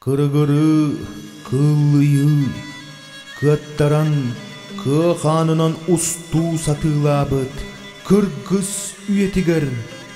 Кырыгырыы, кыллыйыы, кыаттаран кыа хаанынан устуу сатыылаабыт кыргыс үйэтигэр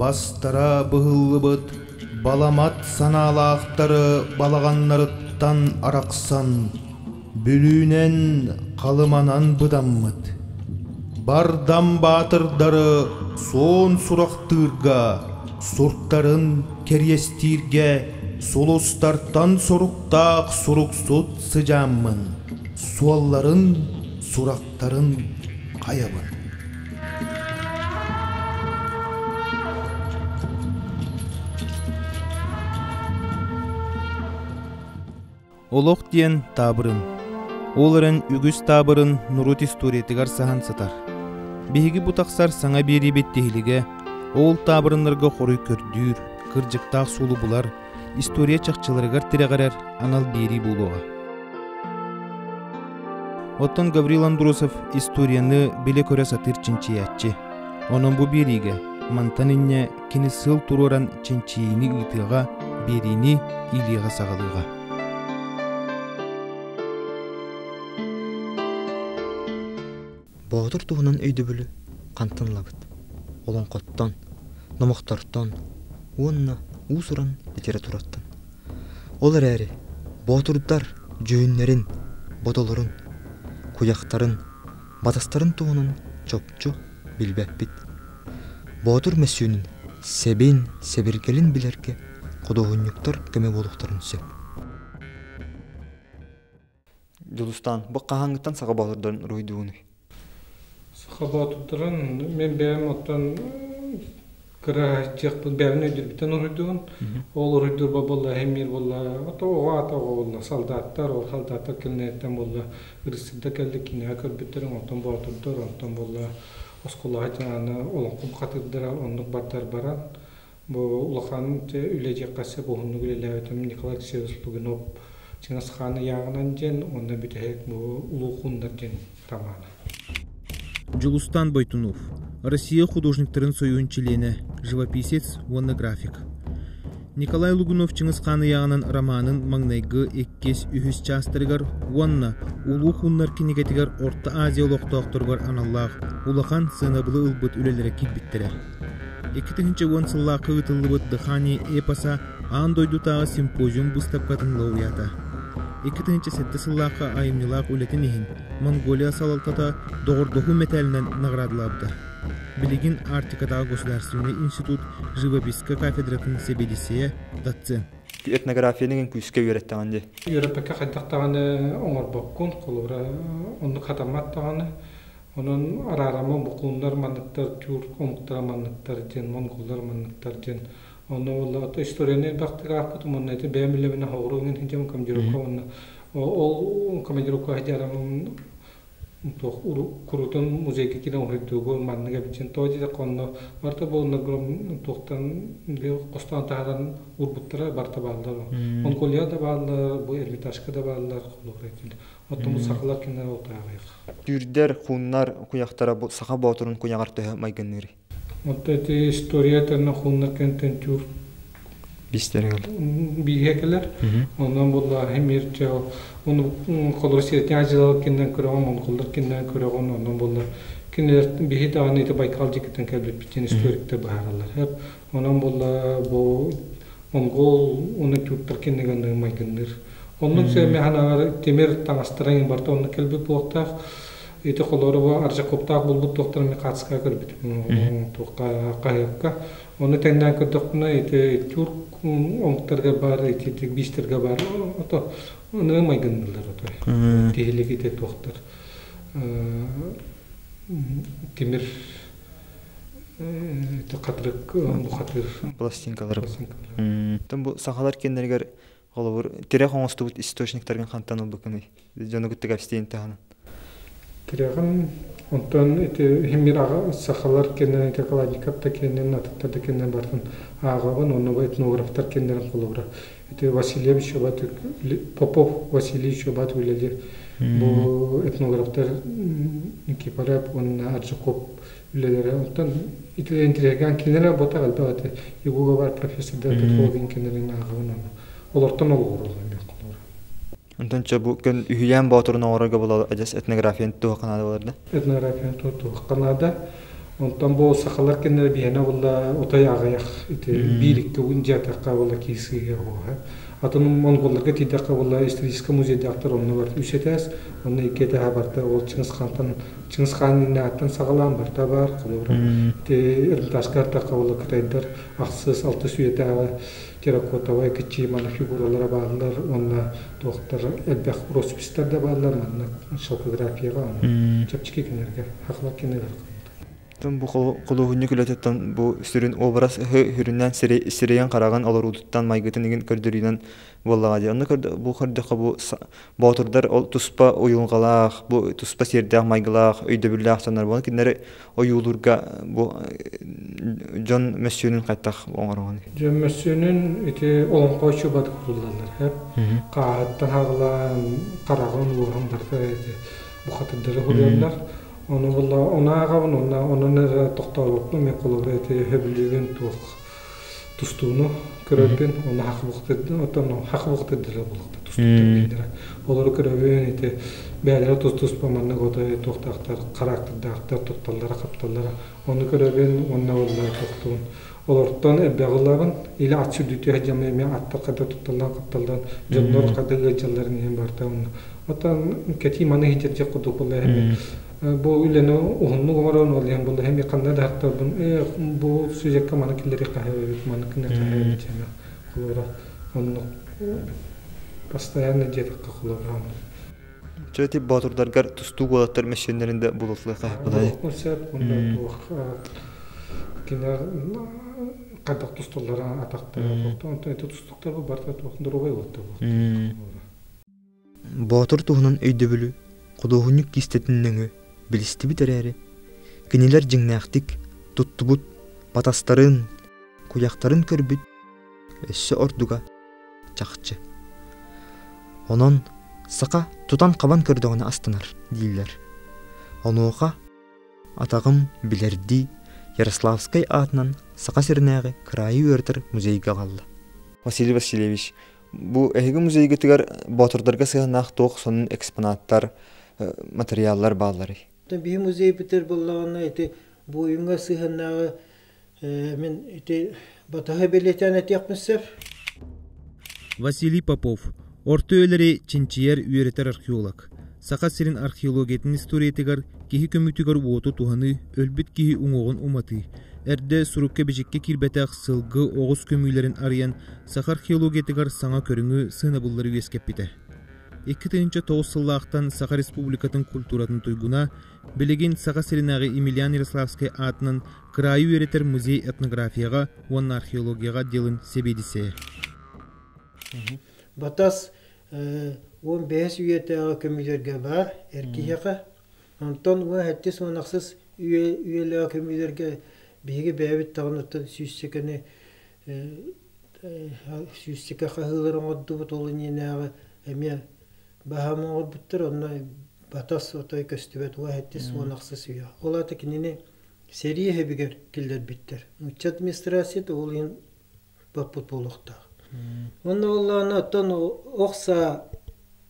Бастара быһыллыбыт баламат санаалаахтары балаҕаннарыттан арахсан, Бүлүүнэн Халыманан быдаммыт. Бардам баатырдары суон сурахтыырга, суртарын кэриэстииргэ сулустартан соруктаах суруксут сыдьааммын, суолларын, сурахтарын хайабын. Олох диэн таабырын. Ол эрэн үгүс таабырын нурут историятыгар саһан сытар. Биһиги бу тахсар саҥа биэрибит тиһилигэ ол таабырыннарга хоруй көрдүүр, кырдьыктаах сулу булар, история чахчыларыгар тирэҕирэр анал биэрии буолуоҕа. Оттон Гаврил Андросов историяны билэ көрө сатыыр чинчийээччи. Онон бу биэриигэ мантан инньэ кини сыл туруоран чинчийиини ыытыаҕа, биэриини иилиэҕэ саҕалыаҕа. Боотур туһунан өйдөбүлү хантан ылабыт? Олоҥхоттон, номохтортон уонна уус-уран литератураттан. Ол эрээри боотурдар дьүһүннэрин, бодолорун, куйахтарын, батастарын туһунан чопчу билбэппит. Боотур мөссүөнүн сэбин, сэбиргэлин билэргэ худуоһунньуктар көмө буолуохтарын сөп. Дьулустаан, бу хаһааҥҥыттан саха боотурдарын уруһуйдуугунуй? Саха боотурдарын мин бэйэм оттон кыра дьиэхпин бэйэбин өйдүүрбүттэн уруһуйдуубун. Ол уруһуйдуурбар буолла эһимиир буолла ото оҕо аата оҕо буолла салдааттар ол салдааттар кинилэртэн буолла ырысыда кэлли кинигэ көрбүттэр онтон боотурдар онтон буолла оскуолаҕа дьаһаана олоҥхо бухатыырдара оннук бардар баран Бу улахан үлэ дьиэххэ сөп уһуннук үлэлээбитим Николай Алексеевич Лугинов Чыҥысхаан ыйааҕынан диэн уонна бүтэһик бу Улуукууннар диэн романа. Дьулустаан Бойтунов, Россия художниктарын союһун чилиэнэ, живописец уонна график. Николай Лугунов Чыҥысхаан ыйааҕынан романын маҥнайгы иккис-үһүс чаастарыгар уонна Улуух Уннар кинигэтигэр Орто Азия олохтоохторугар аналлаах улахан сыанабылы ылбыт үлэлэрэ киирбиттэрэ. Икки тыһыынча уон сыллаахха ыытыллыбыт «Дыхание эпоса» аан дойдутааҕы симпозиум быыстапкатын лауреата. Икки тыһыынча сэттэ сыллаахха айымньылаах үлэтин иһин Монголия салалтата доҕордоһуу мэтээлинэн наҕараадалаабыта. Билигин Арктикатааҕы государственнай институт живописка кафедратын сэбиэдиссэйэ доцент. Этнографияны иҥин күүскэ үөрэттэҕин дии. Үөрэппэккэ хайдах даҕаны оҥорбоккун, холобура, оннук хатаммат даҕаны. Онон Араарама букууннар манныктар тюрк омуктара манныктар диэн монголлар манныктар диэн онно буолла ото историяны элбэхтик аахпыт уонна ити бэйэм билэбинэ хоҕуру гынан сидьэм командировка уонна ол командировка хадьарам туох курутун музейга киирэн уһуйдуугу маннык эбитин то дии конно барта буолна гром туохтан хостоон таһаран урбуттара барта бааллар монголия да бааллар бу эрмитажка да бааллар холура Оттон сахалар кинилэр утаҕыах. Түүрдэр, хууннар куйахтара бу Саха Боотурун куйаҕар төһө майгынныырый? Онто ити историята на хууннар кэнтэн түүр бистэригэл биһиэкэлэр онон буллааһы мирчэ ону холосиятня дьылал киннен көрөҕүн ону холлор киннен көрөҕүн онон буллар кинилэр биһи даҕаны ити байкал дьикитин кэлбиппитин историкте бааралар Онон буолла бу монгол уну тюрктар киниганныыр майгынныыр. Оннун сэмэханаҕар тимир таҥастарың барта оннук кэлбит буохтаах. Ити холорова аржакоптаах булбут туохтарын мехацка көрбүт туохха хаһыакка. Оны теннен көрдөхпүнэ ити тюрк оңтарга бар, ити бистерге бар, ото оны майгынныылар ото. Тихилик ите туохтар. Тимир пластинкалары бу сахалар кеннеригэр холобур тирэх оҥостубут источниктаргын хантан ылбыккыный дьону кытта кэпсиин таһынан тирэҕин онтон ити химираҕа сахалар кеннерин ити каланикаптар кеннерин атыттарда кеннерин бартын ааҕабын онно этнографтар кеннерин холобура Петр Васильевич Батыр, Попов Василий Чубат үлэлэр бу этнографтар Никифоров уонна Аджиков үлэлэрэ. Онтон итилэ интригаан кинилэр работа элбэҕите Югуловар профессордар Петровдин кинилэрин ааҕаҕын олортон олоҕураллар Онтон чэ бу көн үһүйээн боотурун оҥорорго була адьас этнографияны туохха наада буоларда? Этнографияны туохха наада? Онтон бу сахалар кэннэ биһэнэ булла утай аҕыйах ити биир икки угун дьиатахха була киисиһэ буоһа. Атын монголларга тиийдэххэ була историческай музейдахтар онно бар үс этээс, онно икки этээһэ барда ол Чыңгыс хантан Чыңгыс хаан иннэҕэттэн саҕалаан барта бар холобура. Ити Эрдатаска аттахха була кытайдар ахсыс алтыс үйэтээҕи терракотовай кыччыйыманы фигуралара бааллар уонна туохтар элбэх росписьтарда бааллар манна шапографияҕа онно чэпчэки кинилэргэ хахла кинилэр бу худуоһунньук үлэтиттэн бу сүрүн образ үрүннээн сирэйин хараҕын олоруутуттан майгытын игин көрдөрүүнэн буоллаҕа дии онно бу көрдөххө бу Боотурдар ол туспа уйулҕалаах, бу туспа сиэрдээх-майгылаах, өйдөбүллээх санар буолан кинилэри ойуулуурга бу дьон мөссүөнүн хайдах оҥороҕун? Дьон мөссүөнүн ити олоҥхо очубата кутуллаллар. Хааһыттан хаҕылаан, хараҕын ууһан барда бухатырдары худуйаллар. Ону була онааҕабын, онно онон тохтообоккун, мен холобура ити хөбүлүүгүн туох тустууну көрөргүн уонна хах буктырдын оттон хах буктырдыра булуктар тустууктара олору көрөбүн ити бээлэрэ тус-туспа маннык отой туохтаахтар характердаахтар тутталлара хапталлара ону көрөбүн уонна улла тустуун олортон элбэҕиларын или аччы дүйтү хадьама эми аттаккада тутталлан хапталлан дьоннор хадыгы дьалларын иһин барта уонна оттон кэти маны хиджерже кудук булла Бу үлэни уһуннук оҥорон, ол иһин булуһум ханна да хахтарбын бу сюжекка маны киллэри хаһыыбыт, маны киллэри хаһыыбыт диэме холура оннук постоянно диэтахха холура Чэ ити боотурдаргар тустуук уолаттар мэссиэннэрин да булуллуо хаһыппытай? Ол сөп, онда туох кинилэр хайдах тустуллара атахтара, онтон тустуктар бу барта туох друга уолаттар Боотур туһунан өйдөбүлү, худуоһунньук кистэтин нөҥүө билистибит эрээри, кинилэр дьиҥнээхтик туттубут батастарын, куйахтарын көрбүт өссө ордуга чахчы. Онон саха тутан-хабан көрдөҕүнэ астанар дииллэр. Онуоха атаҕым билэрдии Ярославскай аатынан Саха сиринээҕи кыраайы үөрэтэр музейга аҕалла. Василий Васильевич, Бу эһиги музейгытыгар боотурдарга сыһыаннаах туох сонун экспонаттар, матырыйааллар баалларый? Биһи музей бүтэр буоллаҕына ити буойуҥҥа сыһыаннааҕы мин ити батаһы бэлиэтээн этиэхпин сөп. Василий Попов, орто үйэлэри чинчийэр, үөрэтэр археолог. Саха сирин археологиятын историятыгар киһи көмүтүгэр-уоту туһаныы, өлбүт киһи уҥуоҕун уматыы, эрдэ сурукка-бичиккэ киирбэтэх сылгы оҕус көмүүлэрин арыйан саха археологиятыгар саҥа көрүҥү, сыанабыллары үөскэппитэ. Икки тыһыынча тоҕус сыллаахтан Саха Республикатын культуратын туйгуна, билигин Саха сиринээҕи Емельян Ярославскай аатынан кыраайы үөрэтэр музей этнографияҕа уонна археологияҕа диалын сэбиэдиссэйэ. Батас уон бэһис үйэтээҕи көмүлүөргэ баар эр киһиэхэ онтон уон сэттис уон ахсыс үйэлээҕи көмүлүөргэ биһиги бэйэбит даҕанаттан сүүссэкэни сүүссэкэ хаһыылары оҥордубут ол иннинээҕи эмиэ баһаам оҥорбуттар онно батас отой көстүбэт уон сэттис уон ахсыс үйэ ол аата кинини сэрии иһэбигэр киллэрбиттэр нуучча администрацията ол иһин баппыт буолуохтаах. Онно боллоонно оттон охса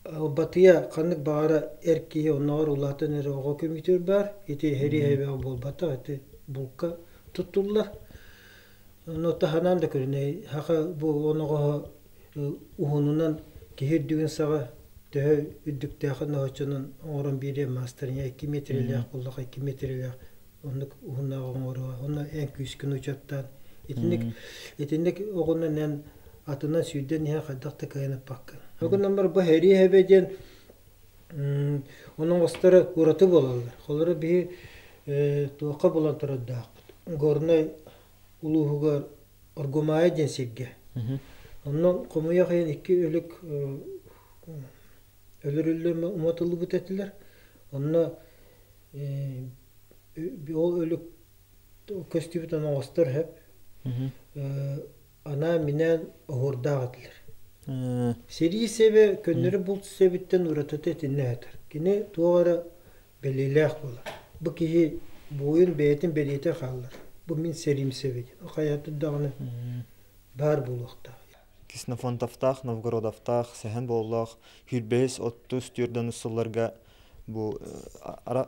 батыя ханнык баара эр киһи оннооҕор улаатан эрэ оҕо көмүтүр баар ити херия эбэҕэ буолбатах ити булка туттуллар ону таһынан да көрүнэй хаха бу оноҕоһо уһунунан киһи үрдүгүн саҕа төһө үрдүктээхин оһочонун оҥорон биэриэ маастарыня икки метрелээх буллах икки метрелээх оннук уһуннааҕы оҥоруо уонна эн күүскүн учуоттаан итинник итинник оҕунан эн атынан сүүрдэн иһэн хайдах да кыайынаппаккын ол гынан бар бу хэрии диэн оның астары ураты болаллар холоро биһи туохха булан турардаахпыт горнай улууһугар оргумаайа диэн сиргэ онон хомуйах айан икки өлүк өлөрүллэр уматыллыбыт этилэр онно ол өлүк көстүбүт оноҕостор сөп анаан минээн оһуордаах этилэр сэрии сэбэ көннөрү булт сэбиттэн уратыта итиннэ жатар кини туох эрэ бэлиэлээх буолар бу киһи буойун бэйэтин бэлиэтэ хааллар бу мин сэрим сэбэ диэн хайатын даҕаны баар буолуохтаах ксенофонтовтаах новгородовтаах сэһэн боллоох хүрбэһис отуз түөрт сылларга бу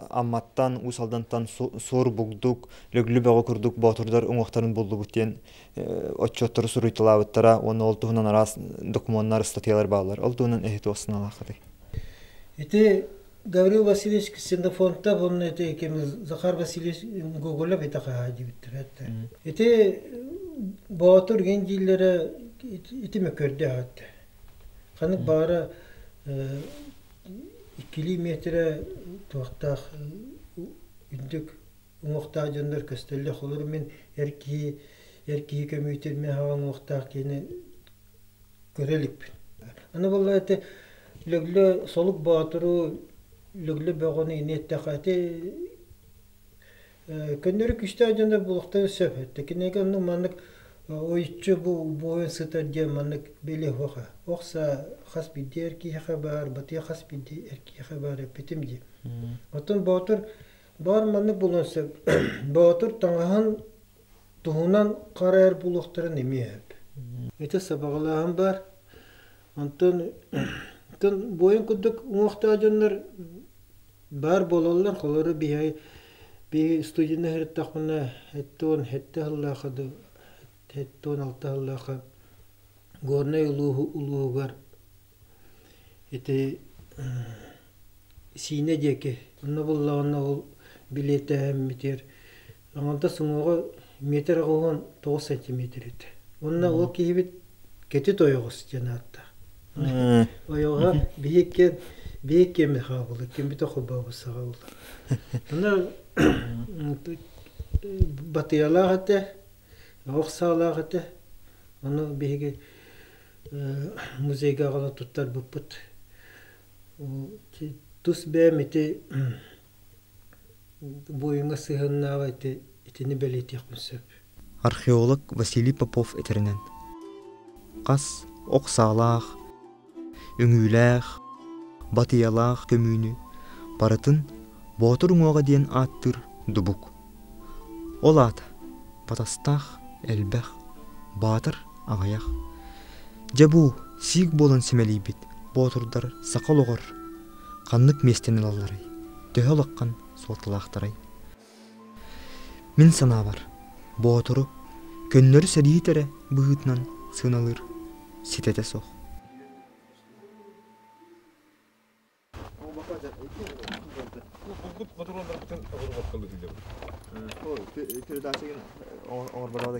Амматтан, Уус Алдантан суор бугдук, Лөглү бөҕө курдук боотурдар уҥуохтарын буллубут диэн отчуоттары суруйталаабыттара уонна ол туһунан араас докумуоннар, статьялар бааллар. Ол туһунан эһи туох саналааххытый? Ити Гаврил Васильевич Ксенофонтов онно ити кемиз Захар Васильевич Гоголя битаха дибиттер этте. Ити боотур гендиллері ити мөкөрдө атты. Ханык баара Иккилии миэтирэ туохтаах үрдүк уҥуохтаах дьоннор көстөллөх. Олору мин эр киһи эр киһи көмүүтүн мин аҕам уҥуохтаах киһини көрө иликпин. Аны буоллар ити Лөглө Солук Боотуру Лөглө бөҕөнү ини эттэххэ ити Көннөрү күүстээх дьоно буолуохтарын сөп. Кинигэ онно маннык ойуччу бу убоһуйан сытар диэн маннык били оһоха. Охса хас бирдии эр киһиэхэ баар, батыа хас бирдии эр киһиэхэ баар эппитим дии. Оттон Боотур баар маннык буолуон сөп. Боотур таҥаһын туһунан хара эр буолуохтарын эмиэ сөп. Ити сабаҕалааһын баар. Онтон буойун курдук уҥуохтаах дьоннор Баар буолаллар, холору биһи студияны иһиттэхпинэ сэттэ уон сэттэ сыллаахха да сэттэ уон алта сыллаахха Горнай улууһугар ити Сиинэ диэки онно буллаҕына ол билиэтээммитигэр Аҥардас уҥуоҕа метр аҕыһын тоҕус сантиметр этэ. Уонна ол киһибит Кэти Тойоҕос диэн аатта. Ойоҕо биһикки биһикки эмэ хаалбыт, кимбитэ холбообут саҕалла. Аны батыйалаах этэ, ох саалаах этэ. Ону биһиги музейга аҕала туттарбыппыт. Тус бэйэм ити Буойуҥҥа сыһыаннааҕа ити итини бэлиэтиэхпин сөп археолог Василий Попов этэринэн хас ох саалаах үҥүүлээх батыйалаах көмүүнү барытын боотур уҥуоҕа диэн ааттыыр дубук ол аата батастаах элбэх баатар аҕыйах дьэ бу сиик буолан симэлийбит боотурдар саха олоҕор ханнык миэстэни ылалларый? Төһө улахан суолталаахтарай? Мин санаабар, Боотуру көннөрү сэриит эрэ быһыытынан сыаналыыр ситэтэ суох. Курдук мотуруоннарыттан оборвокка быһыылабыт. Ой, передача гына оҥорбота да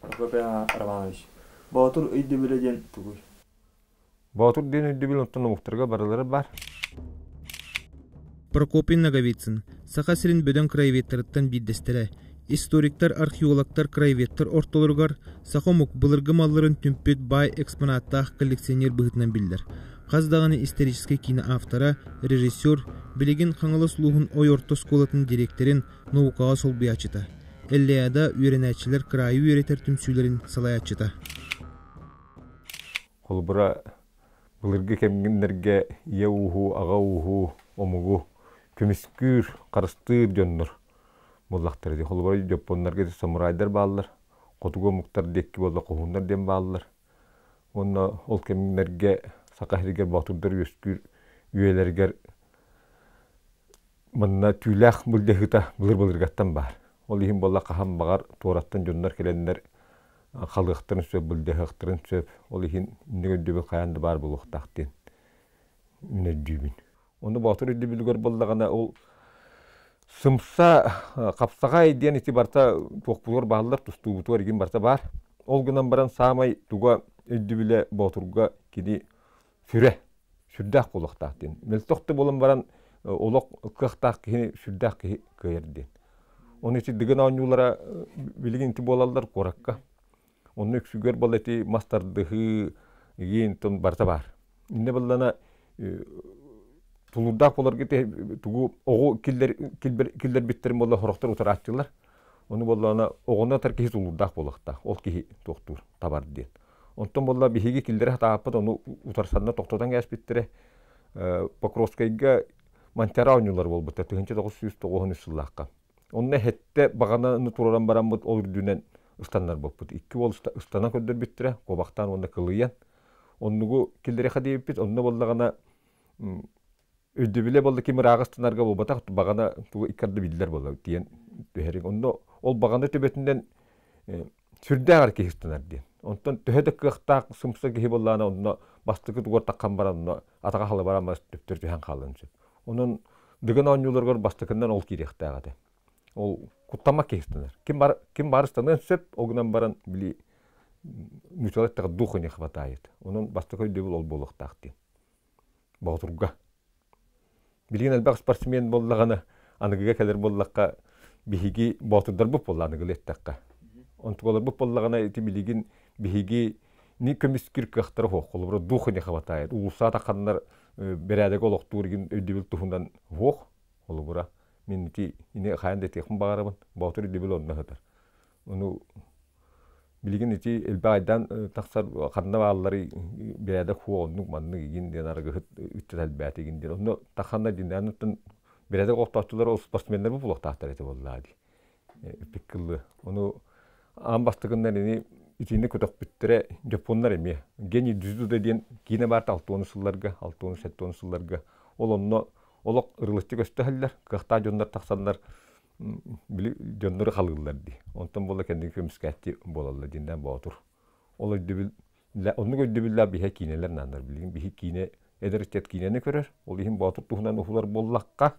Прокопий Романович, Боотур өйдөбүлэ диэн тугуй? Боотур диэн өйдөбүл онтон омуктарга барылара бар. Прокопий Ноговицын Саха сирин бөдөҥ краеведтарыттан биирдэстэрэ, историктар, археологтар, краеведтар ортолоругар саха омук былыргы малларын түмпүт баай экспонаттаах коллекционер быһыытынан биллэр. Хас даҕаны историческай киинэ автора, режиссер, билигин Хаҥалас улууһун Ой орто оскуолатын дириэктэрин наукаҕа солбуйааччыта, Эллиада үөрэнээччилэр кыраайы үөрэтэр түмсүүлэрин салайааччыта. Холобура, былыргы кэмнэргэ ийэ ууһу, аҕа ууһу, омугу көмүскүүр, харыстыыр дьоннор буоллахтар ити. Холобура, дьоппуоннарга самурайдар бааллар, хотугу омуктар диэкки буолла хоһууннар диэн бааллар. Уонна ол кэмнэргэ Саха сиригэр боотурдар үөскүүр үйэлэригэр Манна түүлээх былдьаһыыта былыр-былыргаттан баар. Ол иһин буолла хаһан баҕар туораттан дьоннор кэлэннэр халыахтарын сөп, былдьаһыахтарын сөп. Ол иһин инник өйдөбүл хайаан да баар буолуохтаах диэн мин өйдүүбүн. Ону боотур өйдөбүлүгэр буоллаҕына ол сымса хапсаҕай диэн ити барыта туохпутугар бааллар, тустуубутугар игин барыта баар. Ол гынан баран саамай туга өйдөбүлэ боотурга кини сүрэ сүрдээх буолуохтаах диэн мөлтөх да буолан баран олох кыахтаах киһини сүрдээх киһи кыайар диэн оны ити дыгын оонньуулара билигин ити буолаллар куоракка онно үксүгэр бала ити мас тардыһыы игиин тон барыта баар иннэ баллана тулуурдаах болорго те тугу оҕу киллер киллер киллербиттэрин болла хороктор утарааччылар ону боллана оҕоно тар киһи тулуурдаах буолуохтаах ол киһи туохтуур табар диэн Онтон буолла биһиги киллэрэ сатааппыт, ону утарсанна тохтотон кээспиттэрэ. Покровскайга Монтера оонньуулар буолбуттар 1999 сыллаахха. Онно хэттэ баҕаны туруоран бараммыт, ол үрдүнэн ыстаннарбыппыт. Икки уол ыстанан көрдөрбүттэрэ, куобахтаан уонна кылыйан. Оннугу киллэриэхэ диэбиппит, онно буоллаҕына өйдөбүлэ буолла ким ырааҕы ыстанарга буолбатах, баҕана тугу икки арды биллэр буолла диэн түһэриҥ. Онно ол баҕана төбөтүнэн сүрдээх эр киһи ыстанар диэн. Онтон төһө да кыахтаах сумса киһи буоллаҕына онно бастакы тугар таххан баран онно атаҕа халыбара мас төптөр түһэн хаалыан сөп. Онон Дыгын оонньууларыгар бастакынан ол киириэхтээх этэ. Ол куттаммат киһи ыстанар. Ким бар ким баар ыстаныан сөп, ол гынан баран били ньучалай дух не хватает. Онон бастакы өйдөбүл ол буолуохтаах диэн. Боотурга. Билигин элбэх спортсмен буоллаҕына, аныгыга кэлэр буоллахха, биһиги боотурдарбыт буолла аныгылыы эттэххэ. Онтукаларбыт буоллаҕына, ити билигин биһиги ни көмүскүр кыахтара суох. Холобура, дух ини хабатаайыт. Уулусса атаханнар бэрээдэги олохтуур игин өйдөбүл туһунан суох. Холобура, мин ити ини хайан да этиэхпин баҕарабын, боотур өйдөбүл онно сытар. Ону билигин ити элбэх айдаан тахсар ханна баалларый бэрээдэк хуо оннук маннык игин диэн арыгыһыт ыччат элбээтэ игин диэн онно тахханна диэн оттон бэрээдэк охтооччулар ол спортсменнар бу булуохтаахтар этэ буоллаа дии эппит кыллы ону аан бастакыннан ини итиини көтөхпүттэрэ дьоппуоннар эмиэ гений дюзуда диэн киинэ баар алтыонус сылларга алтыонус сэттионус сылларга ол онно олох ырылыччы көстөһөллөр кыахтаах дьоннор тахсаллар били дьоннору халыыллар дии. Онтон буола кэнники көмүскээччи буолаллар диэннээн боотур. Ол өйдөбүл оннук өйдөбүллээх биһиги киинэлэр нааннар билигин. Биһиги киинэ эдэр ыччат киинэни көрөр. Ол иһин боотур туһунан уһулар буоллахха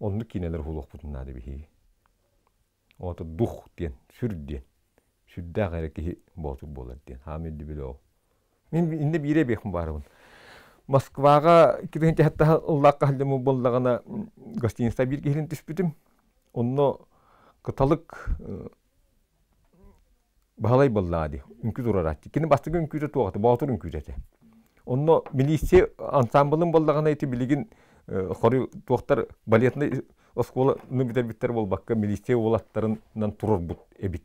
оннук киинэлэр уһулуохпутун наада биһиги. Боотур дух диэн, сүр диэн. Сүрдээх эрэ киһи боотур буолар диэн. Хаамы өйдөбүл ол. Мин инде биире биэхим баарыбын. Москваҕа икки тыһыынча хаттаһа ыллаахха сылдьаммыт буоллаҕына гостиница биир киһилин түспүтүм. Онно кыталык Баһылай буоллаҕа дии, үҥкүү туруорааччы. Кини бастакы үҥкүүтэ туох этэ, Боотур үҥкүүтэ этэ. Онно милиция ансаамбылын боллаҕына ити билигин хоруй туохтар балетнай оскуоланы бүтэрбиттэр буолбакка милиция уолаттарынан турарбыт эбит.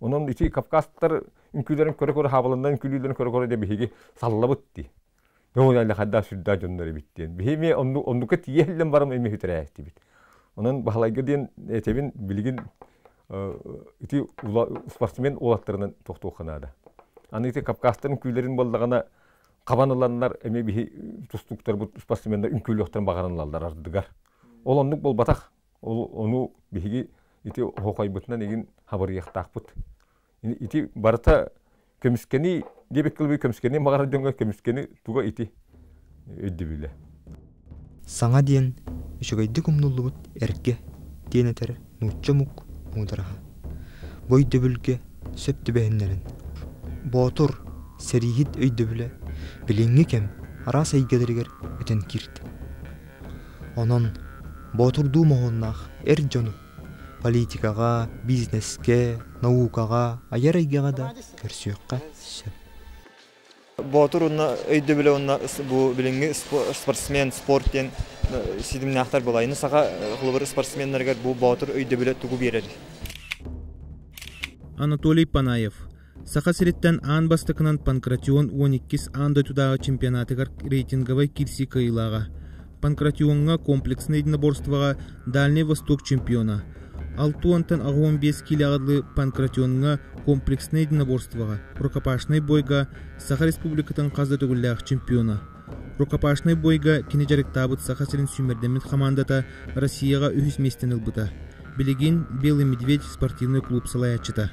Онон ити кавказтар үҥкүүлэрин көрө-көрө хаабаланна үҥкүүлүүлэрин көрө-көрө дэ биһиги саллабыт дии. Ол эле хайда сүрдээх дьоннор эбит диэн. Биһи эмиэ онну оннука тиийэ иһиллэн барам эмиэ үтүрээһиттибит. Онон Баһылайга диэн этэбин билигин ити спортсмен уолаттарынан тохтуохха наада. Аны ити кавказтарын үҥкүүлэрин буоллаҕына хабан ыланнар эмиэ биһи тустуктарбыт спортсменнар үҥкүүлүөхтэрин баҕаран ылаллар ардыгар. Ол оннук буолбатах. Ол ону биһиги ити оһуохайбытынан игин хабырыйахтаахпыт. Ити барыта көмүскэни диэбиккэ дылы көмүскэни маҕар дьоҥҥо көмүскэни туга ити өйдөбүлэ. Саҥа диэн үчүгэйдик умнуллубут эргэ диэн этэр нуучча омук муудараһа. Бу өйдөбүлгэ сөп түбэһиннэрин. Боотур сэрииһит өйдөбүлэ билиҥҥи кэм араас эйгэлэригэр өтөн киирдэ. Онон боотурдуу моһуоннаах эр дьону политикаҕа, бизнескэ, наукаҕа, айар эйгэҕэ да көрсүөххэ сөп. Боотур уонна өйдөбүлэ уонна бу билиҥҥи спортсмен, спорт диэн ситимнээхтэр буолайны саха холобур спортсменнарыгар бу боотур өйдөбүлэ тугу биэрэр? Анатолий Панаев Саха сириттэн аан бастакынан Панкратион уон иккис аан дойдутааҕы чемпионатыгар рейтинговай киирсии кыайыылааҕа. Панкратиоҥҥа комплекснай единоборствоҕа Дальний Восток чемпиона. Алта уонтан аҕа уон биэс киилэҕэ дылы Панкратиоҥҥа комплекснай единоборствоҕа, рукопашнай буойга Саха Республикатын хас да төгүллээх чемпиона. Рукопашнай буойга кини дьарыктаабыт Саха сирин сүүмэрдэммит хамаандата Россияҕа үһүс миэстэни ылбыта. Билигин Белый Медведь спортивнай клуб салайааччыта.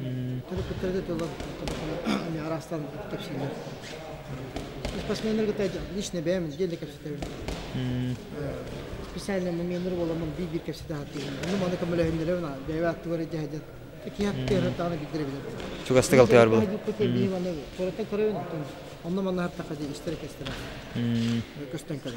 Төрөппүттэргэ тылы араастан кэпсииллэр. Спортсменнар кытта лично бэйэм отдельно кэпсэтэбин. Специально номеныр боламын биир-биир кэпсэтэ ааттыыбын. Ону маны көмөлөһүннэрэбин бэйэбин аттыгар дьэһдет киһаттыыртаҕына биллэр билэр. Чугастык алтыар бұл. Биһиваны, сораттан көрөйөн оттон онно манна хаттақа дии истэрэ кестера. Көстөн көрө.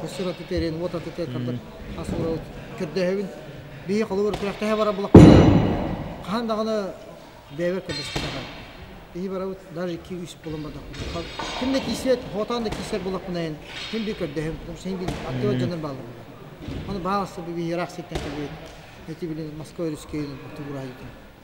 кусур аты тэрин, уот аты тэрин, ас уурабын көрдөһөбүн. Биһи холобур күрэхтэһэ барар булахтара хаһан даҕаны бэйэбэр көрдөспөтөҕө. Биһи барабыт даже iki-üç булан бардахпыт. Ким да киирсибэт, хотаан да киирсэр булахпынайын ким би көрдөһөм, потому что син билин аттыбар дьоннор бааллар. Ону бааласа биһи ыраах ситтэн кэлбит, эти билин Москва Русскайын отугураайытын.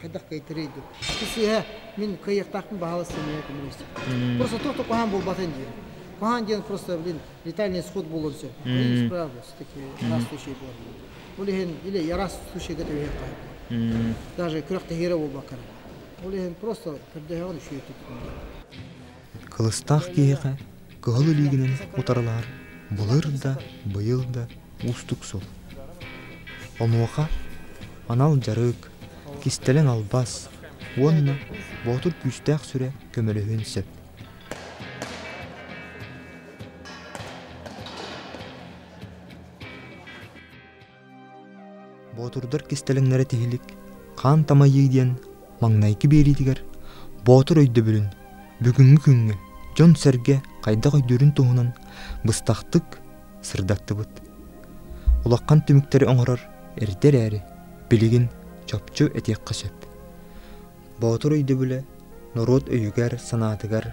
хайдах кыйтарый дуу ити сыыһа мин кыайыахтаахпын баһаалас семья коммунистик просто только куһаан буолбатын диэн куһаан диэн просто блин летальный исход буолуон сөп исправлюсь таки раз случай буолар ол иһин или раз случайга түһүөх қайбы даже күрэх тэһиирэ буолбаккара ол иһин просто көрдөһөҕүн үшүйөттүк Кылыстаах киһиэхэ кыһыл илиигинэн утарылаһар былыр да, быйыл да уустук сыл. Онуоха анал дьарык, кистэлэҥ албас уонна боотур күүстээх сүрэ көмөлөһүөн сөп. Боотурдар кистэлэҥнэрэ тиһилик Хаан тамайыы диэн маҥнайгы биэриитигэр боотур өйдөбүлүн бүгүҥҥү күҥҥэ дьон-сэргэ хайдах өйдүүрүн туһунан быстахтык сырдаттыбыт. Улахан түмүктэри оҥорор эрдэ эрээри билигин чопчу этиэххэ сөп. Боотур өйдөбүлэ норуот өйүгэр-санаатыгар